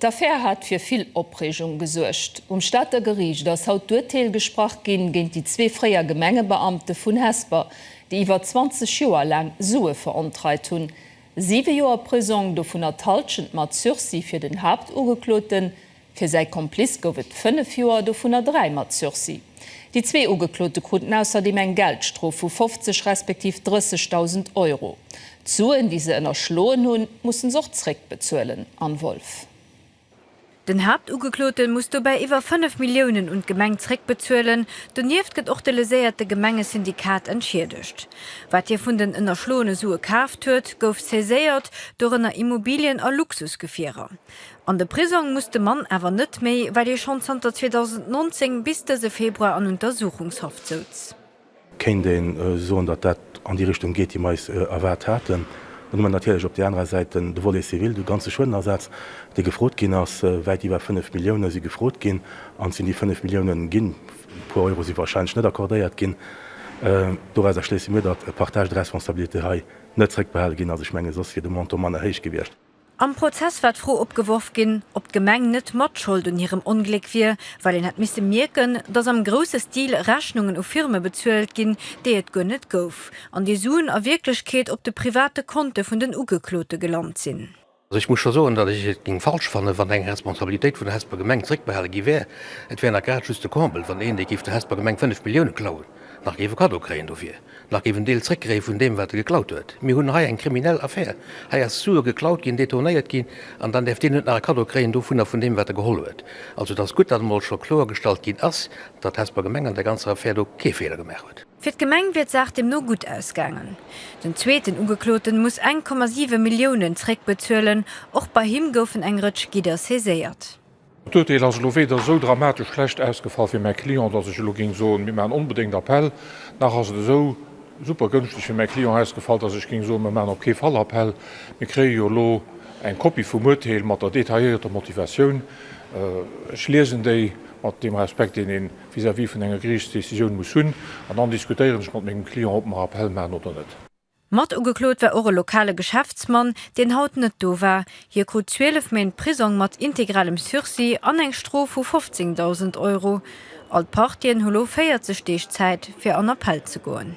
D'Affär hat fir vill Opreegung gesuergt. Um Stater Geriicht ass haut d'Urteel gesprach ginn géint déi zwee fréier Gemengebeamte vun Hesper, déi iwwer 20 Joer laang Sue verontreit hunn. Siwe Joer Prisong, dovunner d'Halschent mat Sursis fir den Haaptugekloten. Fir säi Komplice gouf et fënnef Joer, dovunner dräi mat Sursis. Déi zwee Ugeklote kruten ausserdeem eng Geldstrof vu 50 respektiv 30.000 Euro. D'Suen, déi se ënnerschloen hunn, mussen se och zréckbezuelen, Anne Wolff. Den Haaptugeklote muss dobäi iwwer 5 Milliounen un d'Gemeng zréckbezuelen. Donieft gëtt och de leséierte Gemengesyndikat entschiedegt. Wat hie vun den ënnerschloene Sue kaaft huet, gouf saiséiert, dorënner Immobilien a Luxusgefierer. An de Prisong muss de Mann awer net méi, well hie schonn zanter 2019 bis dëse Februar an Untersuchungshaft souz. Kéint ee soen, datt dat an déi Richtung geet, déi mer eis erwaart haten. Dann hu mer natierlech op där anerer Säit den Volet civil, de ganze Schuedenersaz, dee gefrot ginn ass. Wäit iwwer 5 Millioune si gefrot ginn. An et sinn déi 5 Millioune ginn. E puer Euro si warscheinlech net accordéiert ginn. Dorauser schléisse mir, datt e partage de responsabilité hei net zréckbehale ginn ass. Ech menge soss wier de Montant manner héich gewiescht. Am Prozess war d'Fro opgeworf ginn, ob d'Gemeng net Matschold un hirem Ongléck wier, well een hätt misse mierken, datt am grousse Stil Rechnungen u Firme bezuelt ginn, déi et guer net gouf, an déi Suen a Wierklechkeet op de private Konte vun den Ugeklote gelant sinn. Also ech muss scho soen, datt ech et géing falsch fannen, wann eng Responsabilitéit vun der Hesper Gemeng zréckbehale gi wär. Et wär nach grad just de Comble, wann een, dee géif der Hesper Gemeng 5 Milliounen klauen, nach géif e Kaddo kréien dofir. Nach géif en Deel zréckgréif vun deem wat e geklaut huet. Mir hunn hei eng kriminell Affär. Hei ass Sue geklaut ginn, detournéiert ginn an dann däerf deen net nach e Kaddo kréien dovun a vun deem wat e geholl huet. Also et ass gutt datt emol scho kloergestallt ginn ass, datt d'Hesper Gemeng an där ganzer Affär do kee Feeler gemaach huet. Fir d'Gemeng wier d'Saach deemno gutt ausgaangen. Den zweeten Ugekloten muss eng Komma siwe Milliounen zréckbezuelen. Och bei him goufen eng Rëtsch Gidder saiséiert. D'Urteel ass elo weder esou dramatesch schlecht ausgefall fir mäi Client, dass ech elo géing soen, mir maachen onbedéngt Appell, nach ass et esou super gënschteg fir mäi Client ausgefall, dass ech géing soen, mir maachen op kee Fall Appell. Mir kréie jo elo eng Kopie vum Urteel mat der detailléierter Motivatioun. Ech liesen déi, mat deem Respekt, deen ee vis-à-vis vun enger Geriichtsdecisioun muss hunn, an dann diskutéieren ech mat mengem Client, ob mer Appell maachen oder net. Mat ugeklot war och e lokale Geschäftsmann, deen haut net do war. Hie krut 12 Méint Prisong mat integralem Sursis an eng Strof vu 15.000 Euro. All d'Partien hu lo 40 Deeg Zäit, fir an Appell ze goen.